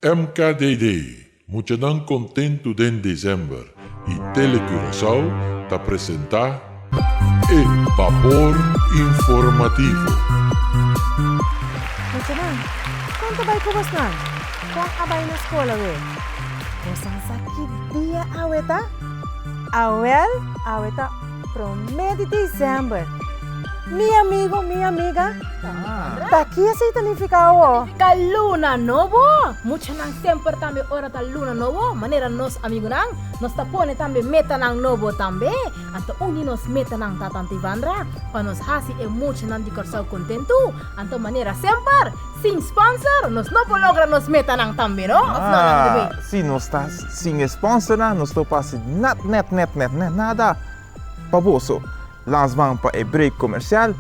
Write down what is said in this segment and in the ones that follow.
MKDD, Muchanan kontentu den December y Tele Curaçao ta presenta e Vapor Informativo. Muchanan, kon ta bai ku bosnan? Kon a bai na skol awe? Bosan sa ki dia awe ta? Awèl, awe ta. Promé di December. Mi amigo, mi amiga, ta kizi ta nifiká awó? Ta luna nobo. Muchanan semper tambe ora ta luna nobo, manera nos amigunan, nos ta pone tambe metanan nobo tambe. Anto un di nos metanan ta Tata Ivandra pa nos hasi e muchanan di Kòrsou kontentu. Anto manera semper. Sin sponsor nos no por logra nos metanan tambe no? Of no Langa di Bay? Si nos ta sin e sponsornan nos no por hasi nat net net net net nada pa boso. Lans ban pa e break komersial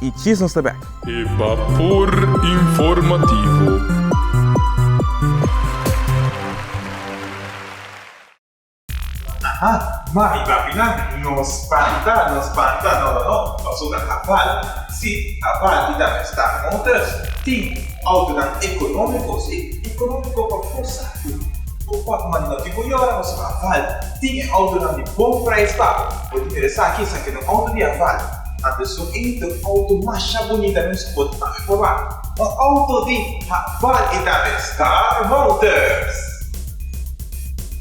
i djis nos ta bek. E Bapor Informativo. Aha, mami papinan, no spanta, no spanta, no, no, no, paso ta habal, si, habal, y ta na Staat Motors, tin autonan economico, si, economico pa bo sabi, bo por manda no tin bo yora, paso habal, tin e autonan di bon prijs pa bo, bo tin mira esaki, esaki no auto di habal, a besun ey ta un auto masha bunita men si bo ta informa, un auto di habal y ta den Staat Motors.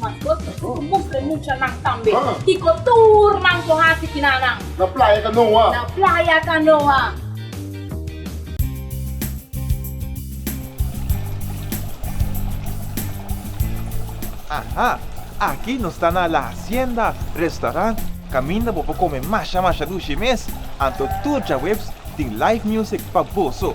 Mas kos ta tur mustra e mucha nan tambe. Kiko tur nan por hasi kina nan. Na playa kanoa. Na playa kanoa. Aha! Aki nos ta na La Hacienda Restaurant kaminda bo por kome masha masha dushi mes. Anto tur djaweps tin live music pa boso.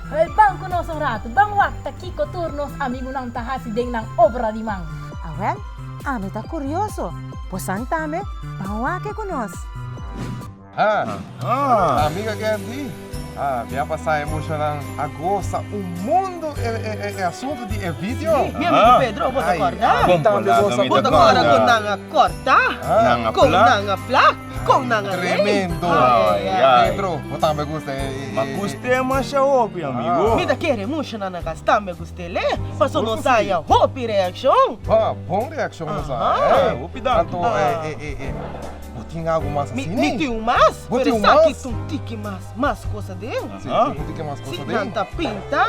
Hoy ban ku nos un ratu. Ban wakta kiko tur nos amigunan ta hasi den nan obra di man. Awèl, ami ta kurioso. Bosan tambe ban wak-e ku nos. Ha, amiga Gerdy, mi a pasa e mushanan a gosa un mundu e asuntu di e video. Si, mi amigu Pedro, bo ta korda? Bo tambe gosa ku nan. Bo ta kora kon nan a korta? Kon nan a plak? Kon nan a lei? Tremendo! Ai, ai, ai. Pedro, bo tambe gusta e... e- Ma gust'é masha hopi, amigo. Mi ta kere mucho nan a gastá mi a gust'el e, paso Sigur ku nos si. haya hopi reakshon. Ba, bon reakshon nos a Aha. haya. Ah, hopi dan. Anto, e, e, e, e, bo tin algu mas Mi, asi mi nei? tin un mas, Bo pero tin un esaki mas? ta un tiki mas, mas cosa den. Si, Aha. tin un tiki mas Si, cosa den. nan ta pinta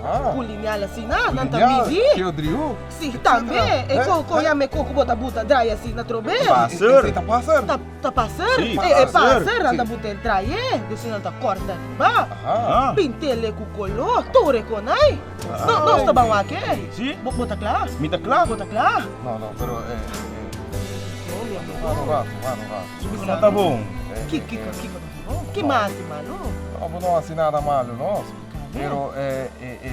Aha. ku lineal asina, nan ta Lineal, midi. Theo Driu. Si tambe e con con ya me con cu bo ta buta draai asi na trobe. Ta paser. Esey ta paser. Ta ta paser. Si ta paser. E paser nan ta buta e draaié deci nan ta corta riba. Aha. Pintele cu colo tur e conai. No nos ta ban wake. Si. Bo bo ta cla. Mi ta cla. Bo ta cla. No no pero e e e wak un rato wak un rato. Su kiko no ta bon? Ki kiko kiko no ta bon? Ki mas di malo? No bo no hasi nada malo no. Pero e e e.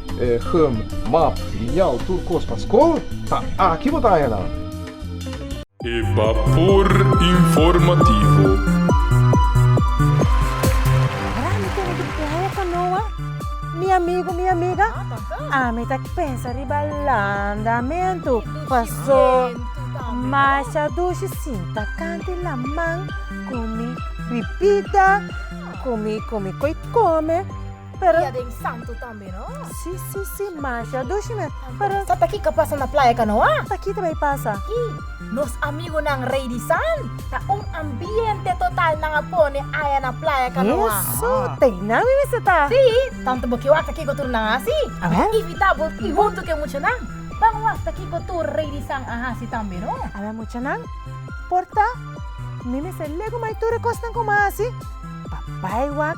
gum, map, lineal, tur kos pa skol, ta aki bo ta haña nan. E Bapor Informativo. Mara mi tene di playa canoa mi amigo mi amiga ami ta pensa riba landamentu paso masha dushi sinta kanti laman cu mi bibida cu mi cu mi coicome Pero. Dia den santo tambe no. Si si si masha dushi mes pero. Sa ta kiko a pasa na playa kanoa? Ta kita bay pasa. Y nos amigunan rey di san. Ta un ambiente total nan a pone aya na playa kanoa. Eso tey nan mi mester ta. Si, tanto bo ki wak ta kiko tur nan a hasi. A ver. Imita bo y hunto ke muchanan ban wak ta kiko tur rey di san a hasi tambe no. A ver muchanan por ta mi mester legu mai tur e cosnan como a hasi pa bay wak.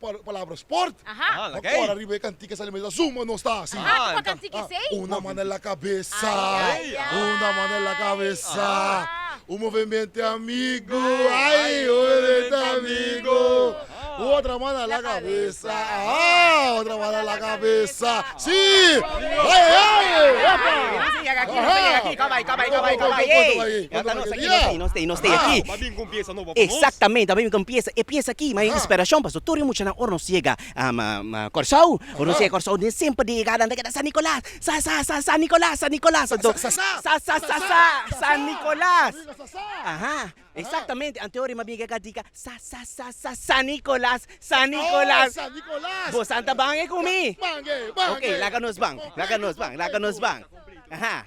Palabra sport. Bo a kora riba e kantika sa mester zumba nos ta hasi. Una man na la kabesa una man na la kabesa un movemente amigo ay un movemente amigo otra man na la kabesa aa otra man na la kabesa si epa. Exactamente, tabata mi ta piensa e piensa aki, ma e inspiracion pasobra tur e muchanan ora nos yega Corsou, ora nos yega Corsou den semper den yegada nan ta keda San Nicolas, sa sa sa San Nicolas, San Nicolas sa sa sa sa sa San Nicolas, aha exactamente anto yori mas bien yega di ka sa sa sa sa San Nicolas, San Nicolas, bo san ta bang'e ku mi, ok laga nos bang, laga nos bang, laga nos bang, aha.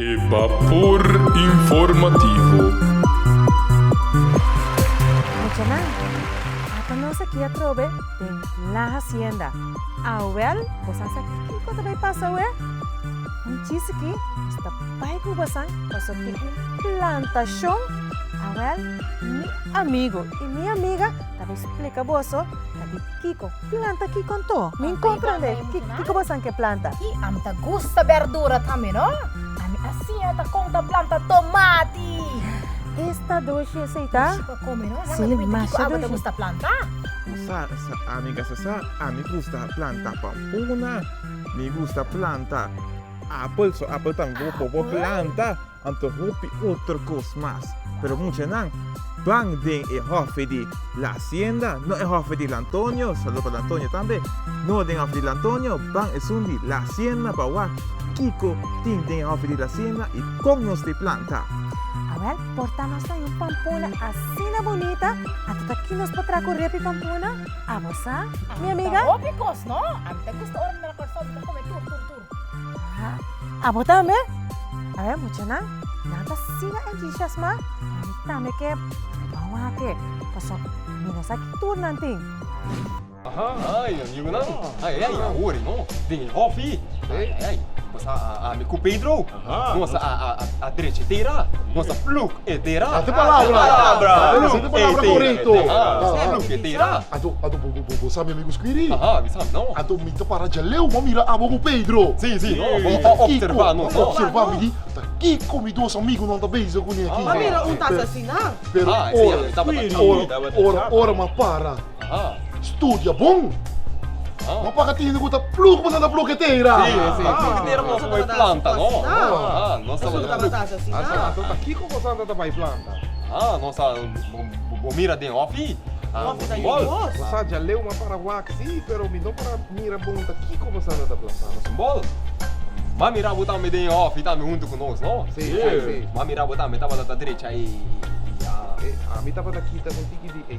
E Bapor Informativo. Muchanan, apa nos a kia trobe den La Hacienda? Awèl, bosan sa kiko ta bay pasa awe? Un chisiki, nos ta bay cu bosan pasobra tin un plantacion. Awèl, mi amigo y mi amiga ta bay splica boso ta di kiko. Planta ki kon to? Mi no komprende. Ki kobasan ke planta? Hi, ami ta gusta berdura tambe no. Ami asinha ta kon ta planta tomati. Es ta dushi esei ta? Dushi pa kome no. Laga mi winti kiko awo ta gusta planta. U sa, sa, ami kasa sa. Ami gusta planta pampuna. Mi gusta planta apel, so apel tambe bo por planta. Anto hopi otro kos mas. Pero muchanan ban den e hòfi di La Hacienda, no e hòfi di Lantonio, saludo pa Lantonio tambe, no den hòfi di Lantonio, ban esun di La Hacienda pa wak kiko tin den e hòfi di La Hacienda i kon nos tin plan ta. Awèl, por ta nos ta yu Pampona asina bunita, anto ta ki nos por traha ku repi Pampona? Abo sa, mi amiga? Anto ta hopi kos, no? Ami ta gusta ora mi mira Kòrsou mi ta kome tur tur tur. Abo tambe? Awe muchanan, nan ta siga entusiasmá, ma mi tambe ke bou wak-e, pasobra mi no sa ki tur nan tin. Ai, amigonan, ai, ai, awor e no, den e hòfi, ai, ai, ai, boso a mi ku Pedro. Nos a drechi tera. Nos a pluk e tera. A si palabra. Bo sabi ami ku skiri? Anto mi ta para djaleu bo mira abo ku Pedro. Bo ta opservá nos. Bo ta opservá mi di ta kiko mi dos amigunan ta bezig kuné aki. Bo mira un tasa asina. Pero ora, ora, ora mi a para. Studia bon. Bo paga tin di cu ta plug bo na plug e tera. Si, si. Bo plug e tera nos tabata bay planta, no? Nos tabata bay plug. Anto ta kico cosa anto ta bay planta? Ah, nos a, bo mira den ofi? Ofi ta yu bos. Bo sa djaleu ma para wak si, pero mi no para mira bon ta kico bo sa anto ta planta. Nos un bol. Ma mira bo tambe den ofi tambe hunto cu nos, no? Si, si, si. Ma mira bo tambe tabata ta drecha e, e, e, e. Ami tabata kita un tiki di e.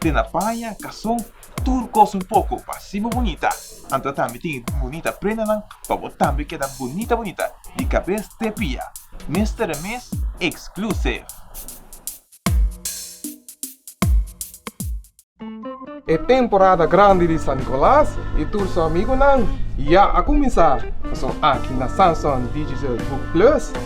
Den a paña, kason, tur kos un poko pa así bo bunita, anto a tambe tin e bunita prendanan pa bo tambe keda bunita bunita di kabes te pia. Mester e mes exclusive. E temporada grandi di San Nicolas i tur su amigunan ya a kuminsá! Pasobra aki na Samson Digital Book Plus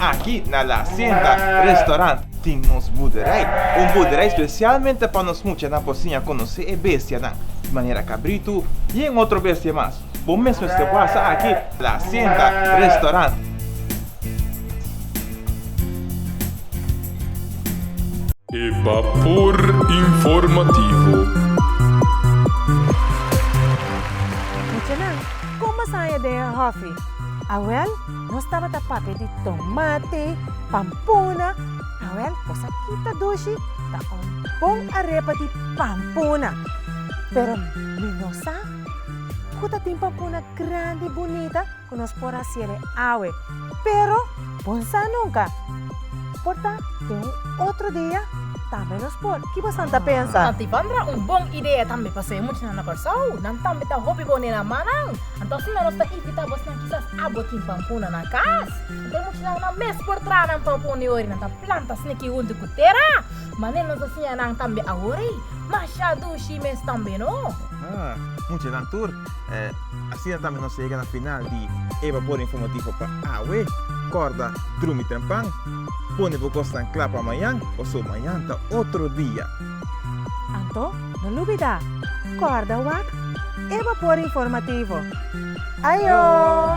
Aki na La Hacienda Restaurant tin nos buderij. Un buderij spesialmente pa nos muchanan por siña konosé e bestianan, di manera kabritu i en otro bestia mas. Bo mes mester pasa aki na La Hacienda Restaurant. E Bapor Informativo. Muchanan, kon masaña den e hòfi? Awèl, nos tabata papia di tomate, pampuna, awèl bos a kita dushi, ta un bon arepa di pampuna. Pero mi no sa ku ta tin pampuna grandi bunita. ku nos por hasié awe, pero bon sa nunka por ta den un otro dia tambe nos por. Ki bosan ta pensa? Ta Tibandra un bon idea tambe pa sey muchanan na Kòrsou. Nan tambe ta hopi bo nena mannan. Anto asina nos ta invitá bosnan kisas abo tin pampuna na kas. Anto e muchanan nan mes por traha nan pampun di ora i nan ta planta sniki huntu ku tera. Manera nos a siña nan tambe awor ei, masha dushi mes tambe no. Muchanan tur Asina tambe nos yega na final di e babor informativo pa awe. Corda drumi temprano, pone bo cosnan cla pa mañan, paso mañan ta otro dia. Anto no lubida, corda wak e babor informativo. Ayo!